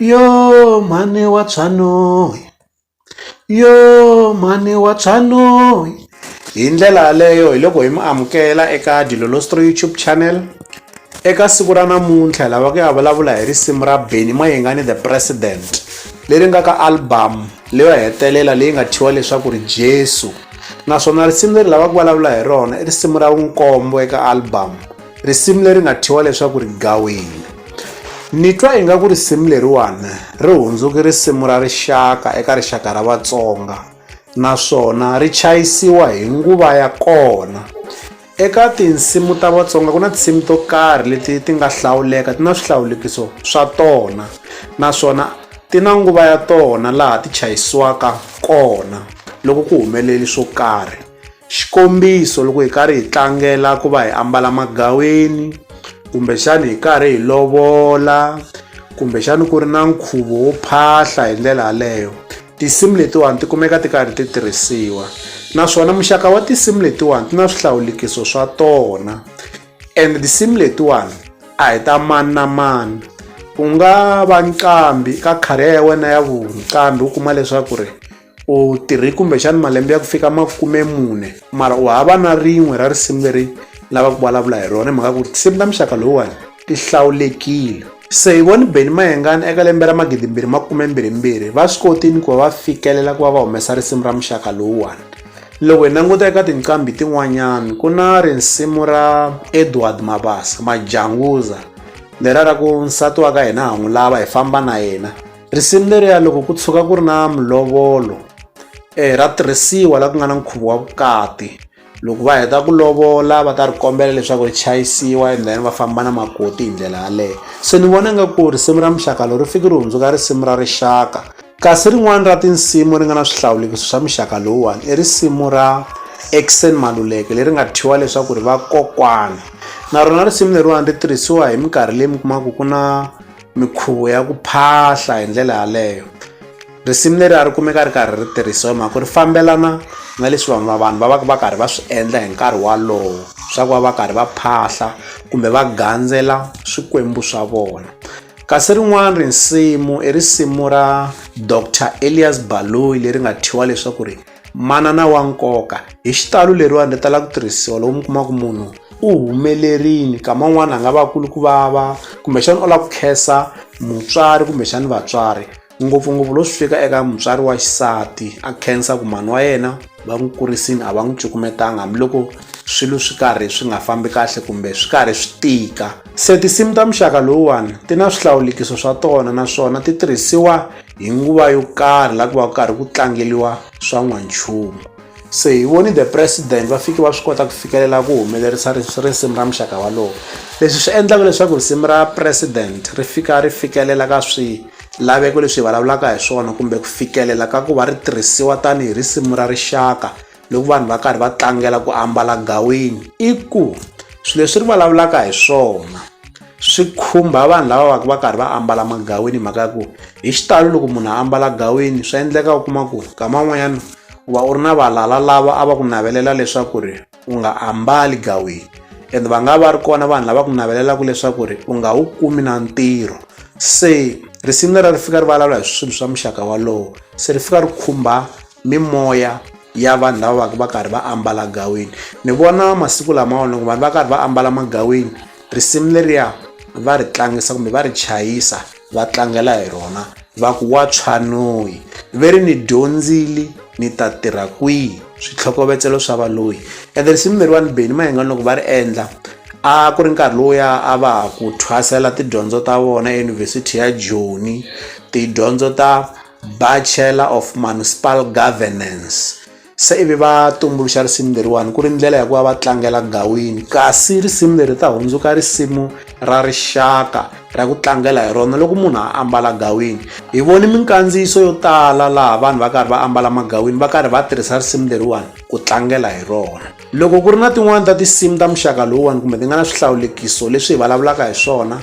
Yoh mhani wa Tshanoi yoh mhani wa Tshanoi hi ndlela yaleyo hi loko hi mi amukela eka Dilolostory YouTube channel eka siku ra namuntlha hi lava ku ya vulavula hi risimu ra Benny Mayengani the president leri nga ka album leyo hetelela leyi nga thyiwa leswaku ri Jesu naswona risimu leri lava ku vulavula hi rona i risimu ra vunkombo eka album. risimu leri nga thyiwa leswaku ri gawini ni twa ingaku risimu leriwani ri hundzuki risimu ra rixaka eka rixaka ra vatsonga naswona ri chayisiwa hi nguva ya kona eka tinsimu ta vatsonga ku na tinsimu to karhi leti ti nga hlawuleka ti na swihlawulekiso swa tona naswona ti na nguva ya tona laha ti chayisiwaka kona loko ku humeleli swo karhi Xikombiso, loko hi karhi hi tlangela ku va hi ambala magaweni kumbexani hi karhi hi lovola kumbexani ku ri na nkhuvo wo phahla hi ndlela yaleyo tinsimu letiwani ti kumeka ti karhi ti tirhisiwa naswona muxaka wa tinsimu letiwani ti na swihlawulekiso swa tona and tinsimu letiwani a hi ta mani na mani ku nga va nqambi ka career ya wena ya vuqambhi u kuma leswaku ri u tirhi kumbexani malembe ya ku fika makume mune mara u hava na rin'we ra risimu leri lava ku vulavula hi rona hi mhaka ku ri tinsimu ta muxaka lowuwani ti hlawulekile se hi voni beni mayengani eka lembe ra magidimbirhi makumembirhimbirhi va swi kotini ku va va fikelela ku va va humesa risimu ra muxaka lowuwani loko hi languta eka tinqambi tin'wanyana ku na risimu ra edward mabasa majanguza lera ra ku nsati wa ka hina ha n'wi lava hi famba na yena Risimu leriya loko ku tshuka ku ri na mulovolo eh, ra tirhisiwa laha ku nga na nkhuvo wa vukati loko va heta ku lovola va ta ri kombela leswaku ri chayisiwa and then va famba na makoti hi ndlela yaleyo se ni vona nga ku risimu ra muxaka lowu ri fiki ri hundzuka risimu ra rixaka kasi rin'wana ra tinsimu ri nga na swihlawulekiso swa muxaka lowuwani i risimu ra exen maluleke leri nga thyiwa leswaku ri vakokwana na rona risimu leriwani ri tirhisiwa hi minkarhi leyi mi kumaka ku na mikhuvo ya ku phahla hi ndlela yaleyo risimu leri a ri kumeka ri karhi ri tirhisiwa hi mhaka ku ri fambelana na leswi vanhu va vanhu va va va karhi va swi endla hi nkarhi walowo swa ku va va karhi va phahla kumbe va gandzela swikwembu swa vona kasi rin'wana risimu i risimu ra dr elias baloyi leri nga thyiwa leswaku ri manana wa nkoka hi xitalo leriwani ri tala ku tirhisiwa loko mi kuma ku munhu u humelerile kama un'wana a nga va kulu ku vava kumbexana u lava ku khensa mutswari kumbexana vatswari ngopfungopfu lo swi fika eka mutswari wa xisati a khensa ku mhani wa yena va n'wi kurisini a va n'wi cukumetanga hambiloko swilo swi karhi swi nga fambi kahle kumbe swi karhi swi tika se tinsimu ta muxaka lowuwani ti na swihlawulekiso swa tona naswona ti tirhisiwa hi nguva yo karhi la ku va ku karhi ku tlangeliwa swa n'wanchumu se hi voni the president va fike va swi kota ku fikelela ku humelerisa risimu ra muxaka walowo leswi swi endlaka leswaku risimu ra president ri fika ri fikelela ka swilaveko leswi hi vulavulaka hi swona kumbe ku fikelela ka ku va ri tirhisiwa tanihi risimu ra rixaka loko vanhu va karhi va tlangela ku ambala gawini i ku swilo leswi ri vulavulaka hi swona swi khumba vanhu lava va va karhi va ambala magawini hi mhaka ya ku hi xitalo loko munhu a ambala gawini swi endleka u kuma ku nkama wun'wanyana u va u ri na valala lava a va ku navelela leswaku ri u nga ambali gawini and va nga va ri kona vanhu lava ku navelelaka leswaku ri u nga wu kumi na ntirho se risimu lera ri fika ri vulavula hi swilo swa muxaka walowo se ri fika ri khumba mimoya ya vanhu lava va ka va karhi va ambala gaweni ni vona masiku lamawa loko vanhu va karhi va ambala magaweni risimu leriya va ri tlangisa kumbe va ri chayisa va tlangela hi rona va ku wa tshwanoyi ve ri ni dyondzile ni ta tirha kwihi switlhokovetselo swa valoyi ende risimu leriwani beni mayengani loko va ri endla a ku ri nkarhi lowuya a va ha ku thwasela tidyondzo ta vona eyunivhesiti ya joni tidyondzo ta Bachelor of Municipal Governance se ivi va tumbuluxa risimu leriwani ku ri ndlela ya ku va va tlangela gawini kasi risimu leri ta hundzuka risimu ra rixaka ra ku tlangela hi rona loko munhu a ambala gawini hi voni minkandziyiso yo tala laha vanhu va karhi va ambala magawini va karhi va tirhisa risimu leriwani ku tlangela hi rona loko ku ri na tin'wani ta tinsimu ta muxaka lowuwani kumbe ti nga na swihlawulekiso leswi hi vulavulaka hi swona